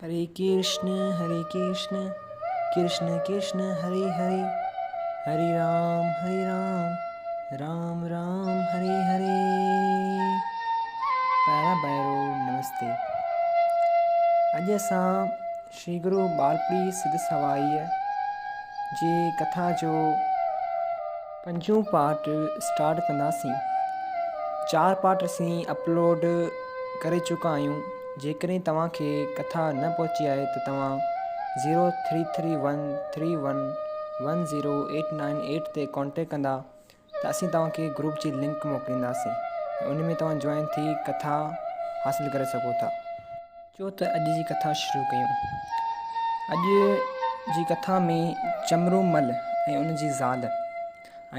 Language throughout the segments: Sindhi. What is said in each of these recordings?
هري ڪرشن هري ڪرشن ڪرشن ڪرشن هري هري هري رام هري رام رام رام هري هري پيارا ڀائرو نمستي اڄ اسان شري گرو ٻالپڙي سڌ سوائيء جي ڪٿا جو پنجون پارٽ اسٽارٽ ڪنداسين چار پارٽ اسين اپلوڊ ڪري چڪا آهيون جيڪڏهن توهان کي ڪٿا نه پهچي آهي ته توهان zero three three one three one one zero eight nine eight تي ڪانٽيڪٽ ڪندا ته اسين توهان کي گروپ جي لنڪ موڪلينداسين ان ۾ توهان جوائن ٿي ڪٿا حاصل ڪري سگهو ٿا چو ته اڄ جي ڪٿا شروع ڪيون. اڄ جي ڪٿا ۾ چمرو مل ۽ ان جي زال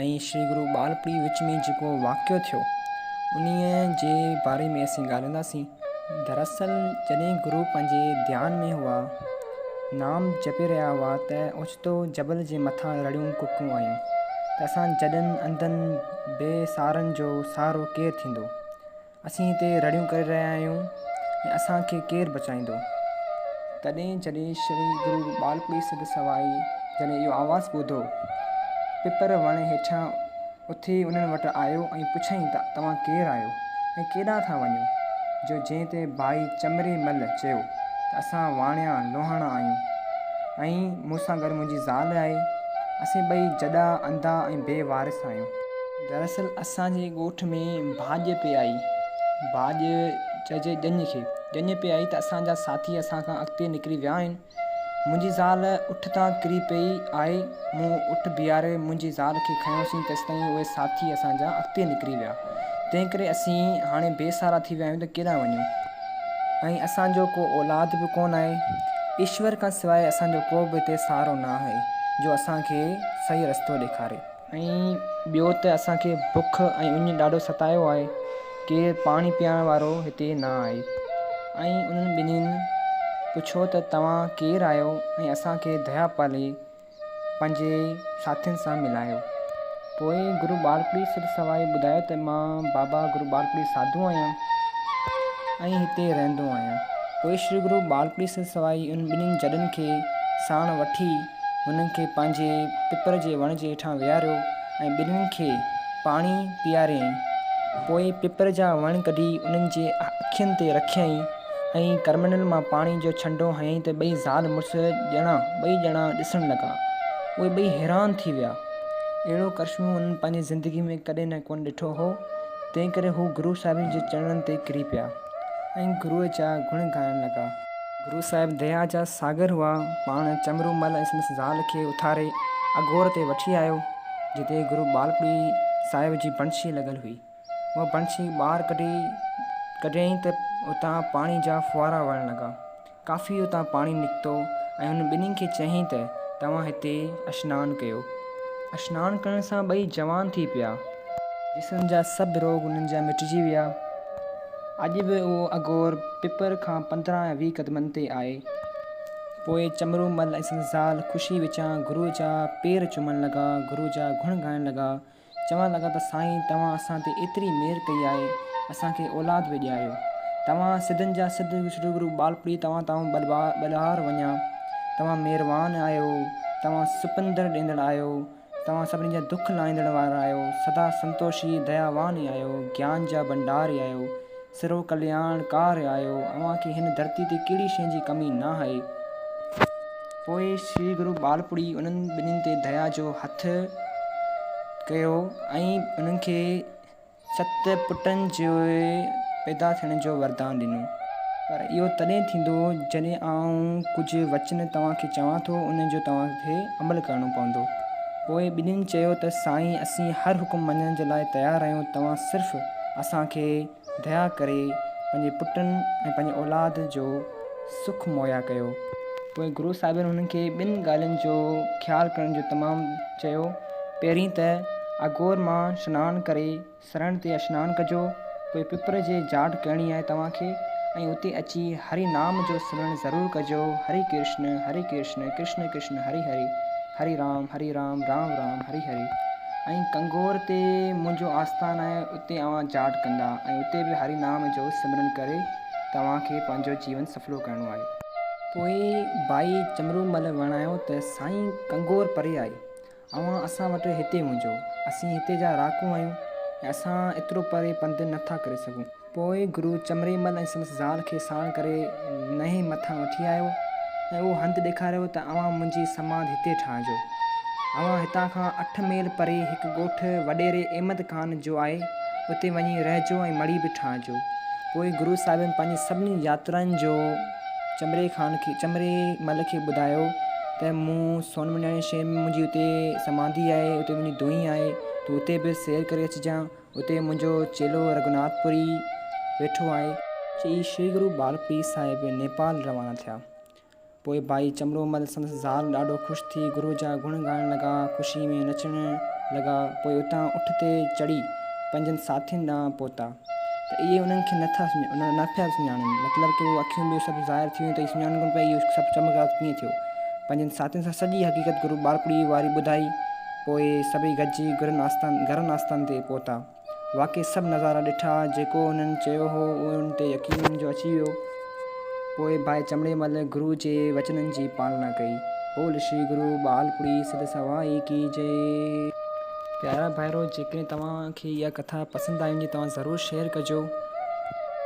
۽ شري گرو ٻالپڙي وچ ۾ جيڪو واقعو ٿيو انهي جي باري ۾ اسين ڳالهائينداسين. دراصل جڏهن گرو پنهنجي ڌيان ۾ هئا، نام جپي رهيا هئا ته اوچتو جبل جي مٿان رڙيون ڪڪون آيون ته اسان جڏن انڌن بي سهارن جو سهارو ڪير ٿيندو؟ اسين هتي رڙيون ڪري رهيا آهيون ۽ اسان کي ڪير بچائيندو؟ تڏهن جڏهن شري گرو ٻالپڙي سڌ سوائي جڏهن اهو آواز ٻڌو، پپر وڻ هيٺيان اٿي انهن وٽ آيو ۽ پڇيائين ته توهان ڪير آهيو ۽ ڪيڏانهن ٿا وڃو؟ جو جنهن تي ڀائي چمري مل چيو ته اسان واڻيا لوهاڻا آهيون ۽ مون سان گڏ منهنجي زال آهي، اسين ٻئي جڏا، انڌا ۽ بي وارث آهيون. دراصل اسان جي ڳوٺ ۾ ڀاڄ پئي آئي، ڀاڄ چئجي ڄڃ کي، ڄڃ پئي آئي ته اسان جا ساٿي اسان کان اڳتي نڪري ويا آهن. منهنجي زال اٺ تان ڪري پئي آهي، مون اٺ بيهاري منهنجي زال کي کنيوسين تيستائين اهي ساٿي اسان جا اڳتي نڪري ويا، تنهنڪري اسين هاڻي بي سهارا ٿي ويا آهيون ته ڪيڏانهن وڃون ۽ اسان جو ڪو اولاد به ڪونه آهي، ايشور کان سواء اسان جو ڪو به هتي سهارو نه آهي جو اسان کي صحيح رستو ڏيکاري. ۽ ٻيو ته اسان کي بک ۽ اڃ ڏاڍو ستايو آهي، ڪير پاڻي پيارڻ وارو هتي نه آهي. ۽ انهن ٻنهين پڇيو ته توهان ڪير آهيو ۽ اسان کي ديا پالي پنهنجي ساٿين سان ملايو. پوء گرو ٻالڪڙي سر سوائي ٻڌايو ته مان بابا گرو ٻالڪڙي ساڌو آهيان ۽ هتي رهندو آهيان. پوء شري گرو ٻالڪڙي سر سوائي انهن ٻنهين جڏن کي ساڻ وٺي، هنن کي پنهنجي پپر جي وڻ جي هيٺان ويهاريو ۽ ٻنين کي پاڻي پيئاريائين. پوء پپر جا وڻ ڪڍي انهن جي اکين تي رکيائين ۽ ڪرمنڊل مان پاڻي جو ڇنڊو هنيائين ته ٻئي زال مڙس ڄڻا ٻئي ڄڻا ڏسڻ لڳا. اهي ٻئي حيران ٿي ويا. اهڙو ڪرشمو هنن پنهنجي زندگي ۾ ڪڏهن نه ڪونه ڏٺو هو. تنهنڪري هو گرو صاحبن جي چرڻن تي ڪري پيا ۽ گروء جا گڻ ڳائڻ لڳا. گرو صاحب ديا جا ساگر هئا. پاڻ چمرو مل ۽ سندس زال کي اٿاري اگهور تي وٺي آيو، جتي گرو ٻالپڙي صاحب جي بڻشي لڳل هئي. اها بڻشي ٻاهر ڪڍي ڪڍيائين ته اتان پاڻي جا ڦوهارا وهڻ لڳا. ڪافي اتان پاڻي نڪتو ۽ هن ٻنهي کي چيائين ته توهان هتي اشنان ڪيو. اشنان ڪرڻ سان ٻئي جوان ٿي پيا. جسم جا سڀ روڳ انهن جا مٽجي ويا. اڄ به اهو اگهور پپر کان پندرهن يا ويهه قدمن تي آهي. پوء چمرو مل ۽ سندس زال خوشيء وچان گروء جا پير چمڻ لڳا، گروء جا گڻ ڳائڻ لڳا، چوڻ لڳا ته سائين توهان اسان تي ايتري مهر ڪئي آهي، اسان کي اولاد به ڏياريو. توهان سڌن جا سڌ سرگرو ٻالپڙي توهان تائون ٻلهار وڃان، توهان مهربان آهيو، توهان سپندر ڏيندڙ آهيو، توهان سڀني جا دک لاهيندڙ وارا آهيو، سدا سنتوشي دياوان آهيو، گيان جا ڀنڊار آهيو، سرو ڪلياڻ ڪار آهيو، اوهان کي هن ڌرتي تي ڪهڙي شيء جي ڪمي ناهي. پوء شري گرو ٻالپوڙهي انهن ٻنهي تي ديا جو هٿ ڪيو ۽ انهن کي. ست پٽن جي پيدا ٿيڻ جو وردان ڏنو. پر اهو تڏهن ٿيندو جڏهن آئون ڪجهه وچن توهان کي چوان ٿو، ان جو توهان کي عمل ڪرڻو پوندو. پوء ٻنهين چيو ته سائين اسين هر حڪم مڃڻ جي لاء تيار آهيون، توهان صرف اسان کي ديا ڪري پنهنجي پٽن ۽ پنهنجي اولاد جو سک مهيا ڪيو. پوء گرو صاحبن هنن کي ٻن ڳالهين جو خيال ڪرڻ جو تمام چيو. پهرين ته اگهور مان سنان ڪري سرڻ تي اشنان ڪجو، پوء پپر جي جاٽ ڪهڻي آهي توهان کي ۽ اتي اچي هري نام جو سمرڻ ضرور ڪجو، هري ڪرشن، هري ڪرشن، ڪرشن ڪرشن، هري هري، هري رام، هري رام، رام رام، هري هري ۽ ڪنگور تي منهنجو آستان آهي اتي اوهان جاٽ ڪندا ۽ اتي به هري نام جو سمرڻ ڪري توهان کي پنهنجو جيون سڦلو ڪرڻو آهي. پوء ڀائي چمرومل وڻايو ته سائين ڪنگور پري آهي. اوهان اسان وٽ هتي هجو، اسين هتي جا رهاڪو آهيون ۽ اسان ايترو پري پنڌ نه ٿا ڪري سگهون. پوء گرو چمري مل ۽ سندس زال کي ساڻ ڪري نئين مٿان وٺي آيو ۽ اهو هنڌ ڏيکاريو ته اوهان منهنجي سماڌ هتي ٺاهجو. اوهان هتان کان اٺ ميل پري هڪ ڳوٺ وڏيري احمد خان جو آهي، اتي وڃي رهجو ۽ مڙي به ٺاهجو. پوء گرو صاحبن پنهنجي سڀني ياترائن جو. چمري خان کي چمري مل کي ٻڌايو ته مون سون مڃاڻي شهر ۾ منهنجي اتي سماڌي آهي اتي منهنجي دونهي آهي تون اتي به سير ڪري اچجان اتي منهنجو چيلو رگهوناٿ پوري ويٺو آهي. چئي شري گرو ٻال پير صاحب نيپال روانا ٿيا. پوء ڀائي چمرو مل سندس زال ڏاڍو خوش ٿي گرو جا گڻ ڳائڻ لڳا خوشي ۾ نچڻ لڳا پوء اتان اٺ تي چڙهي پنهنجن ساٿين ڏانهن پهتا. ته اهي انهن کي نه ٿا نه پيا سڃاڻن، مطلب ته اهو اکيون ٻيو سڀ ظاهر ٿي ويون ته اهي سڃاڻن ڪونه پيا ته اهو سڀ چمڪدار ڪيئن ٿيو. پنهنجن ساٿين سان سڄي حقيقت گرو ٻارپڙي واري ٻڌائي. پوء سڀئي گڏجي گرن آستان گرن آستان تي پهتا. واقعي سڀ نظارا ڏٺا، جيڪو هنن چيو هو اهو انهن تي يقين انهن جو اچي ويو. پوء ڀائي چمڙي مل گرو جي وچنن جي پالنا ڪئي. بول شري گرو ٻالپڙي سڌ سوائي ڪي جئي. پيارا ڀائرو جيڪڏهن توهان کي اها ڪٿا پسند آئي هجي توهان ضرور شيئر ڪجو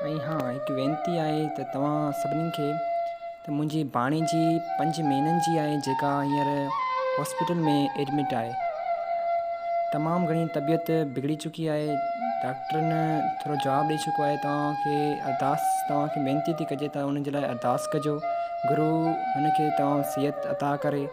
۽ ها هڪ وينتي آهي ته توهان سڀني کي ته منهنجي ڀاڻي جي پنج مهينن جي آهي جيڪا هينئر هاسپيٽل ۾ ايڊمٽ آهي تمام گهڻي طبيعت بگڙي چڪي آهي ڊاڪٽرن ٿورو جواب ڏئي چڪو آهي توهان کي ارداس توهان کي وينتي ٿي ڪجي ته ان جي لاء ارداس ڪجو گرو هن کي توهان صحت عطا ڪري